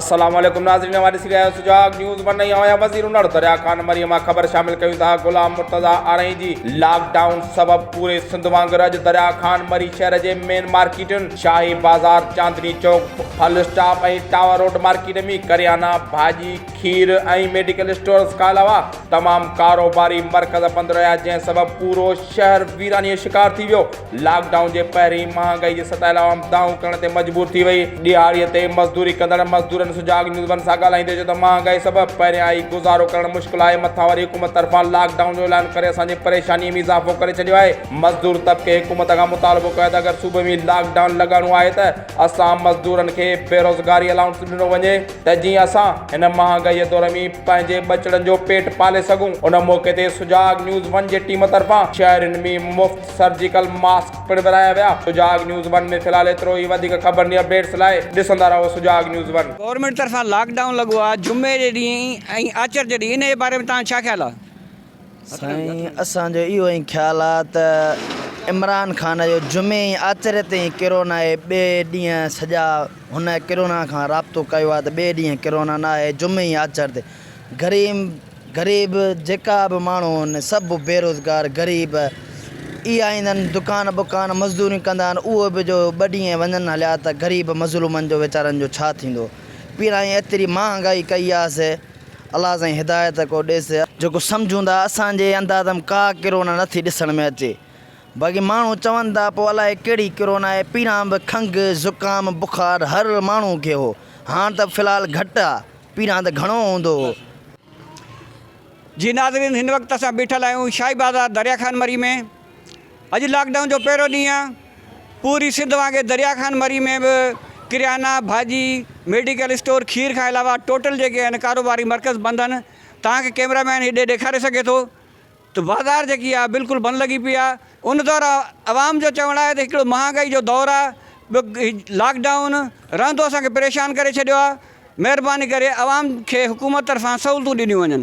السلام عليڪم ناظرين اوهان ڏسي رهيا آهيو سجاڳ نيوز ون ۽ آهيان وزير انڙ دريا خان مري مان خبر شامل ڪيون ٿا غلام مرتضا آرائين جي لاڪ ڊائون سبب پوري سنڌ وانگر اڄ دريا خان مري شهر جي مين مارڪيٽن شاهي بازار چاندني چوڪ ڦل اسٽاپ ۽ ٽاور روڊ مارڪيٽ ۾ ڪريانا ڀاڄي کير ۽ ميڊيڪل اسٽورز کان علاوه تمام ڪاروباري مرڪز بند رهيا جنهن سبب پورو شهر ويراني جو شڪار ٿي ويو، لاڪ ڊائون جي پهرين مهانگائي جي ستايل عوام دانهون ڪرڻ تي مجبور ٿي وئي. ڏهاڙي تي مزدوري ڪندڙ مزدورن سجاڳ نيوز ون سان ڳالهائيندي چيو ته مهانگائي سبب پهريائين گذارو ڪرڻ مشڪل آهي مٿان وري حڪومت طرفان لاڪ ڊائون جو اعلان ڪري اسان جي پريشاني ۾ اضافو ڪري ڇڏيو آهي، مزدور طبقي حڪومت کان مطالبو ڪيو آهي ته اگر صوبي ۾ لاڪ ڊائون لڳائڻو آهي ته. اسان مزدورن کي بيروزگاري الائونس ڏنو وڃي ته جيئن اسان هن مهانگائي دور ۾ پنهنجي ٻچڙن جو پيٽ پالي سگهون ان موقعي تي سجاڳ نيوز ون جي ٽيم طرفان شهرين ۾ مفت سرجيڪل ماسڪ پڻ ورهايا ويا سجاڳ نيوز ون ۾ في الحال ايترو ئي وڌيڪ خبرن يا اپڊيٽس لاء ڏسندا رهو سجاڳ نيوز ون. گورنمينٽ طرفان لاڪ ڊائون لڳو آهي جمعي جي ڏينهن ۽ آچر جي ڏينهن ان جي باري ۾ توهان جو ڇا خيال آهي؟ سائين اسان جو اهو ائين خيال آ ته عمران خان جو جمعي ۽ آچري تي ئي ڪرونا اهي ٻئي ڏينهن سڄا هن ڪرونا کان رابطو ڪيو آ ته ٻئي ڏينهن ڪرونا نه آهي جمعي ۽ آچر تي غريم غريب جيڪا به ماڻهو هن سڀ بيروزگار غريب اي آئندن دڪان بڪان مزدوري ڪندا آهن اهي به جو ٻه ڏينهن وڃن هليا ته غريب مظلومن جو ويچارن جو ڇا ٿيندو پيرائين ايتري مهانگائي ڪئي آ سي الله سائين هدايت ڪو ڏيس. جيڪو سمجهون ٿا اسان جي انداز م ڪا ڪرونا نٿي ڏسڻ ۾ اچي باقي ماڻهو چون ٿا پو الائي ڪهڙي ڪرونا آهي پهريان به کنگ زڪام بخار هر ماڻهو کي هو هاڻ ته في الحال گهٽ آ پهريان ته گهڻو هوندو هو. جي ناظرين هن وقت اسان بيٺل آهيون شاهي بازار دريا خان مري ۾ اڄ لاڪ ڊائون جو پهريون ڏينهن آهي، پوري سنڌ وانگي دريا خان مري ۾ به ڪريانا، ڀاڄي، ميڊيڪل اسٽور، کير کان علاوه ٽوٽل جيڪي آهن ڪاروباري مرڪز بند آهن، توهان کي ڪيمرا مين هيڏي ڏيکاري سگهي ٿو ته بازار جيڪي آهي بلڪل بند لڳي پئي آهي، ان دور عوام جو چوڻ آهي ته هڪڙو مهانگائي جو دور آهي، ٻيو لاڪ ڊائون رهندو اسان کي پريشان ڪري ڇڏيو آهي. مهرباني ڪري عوام کي حڪومت طرفان سهولتون ڏنيون وڃن.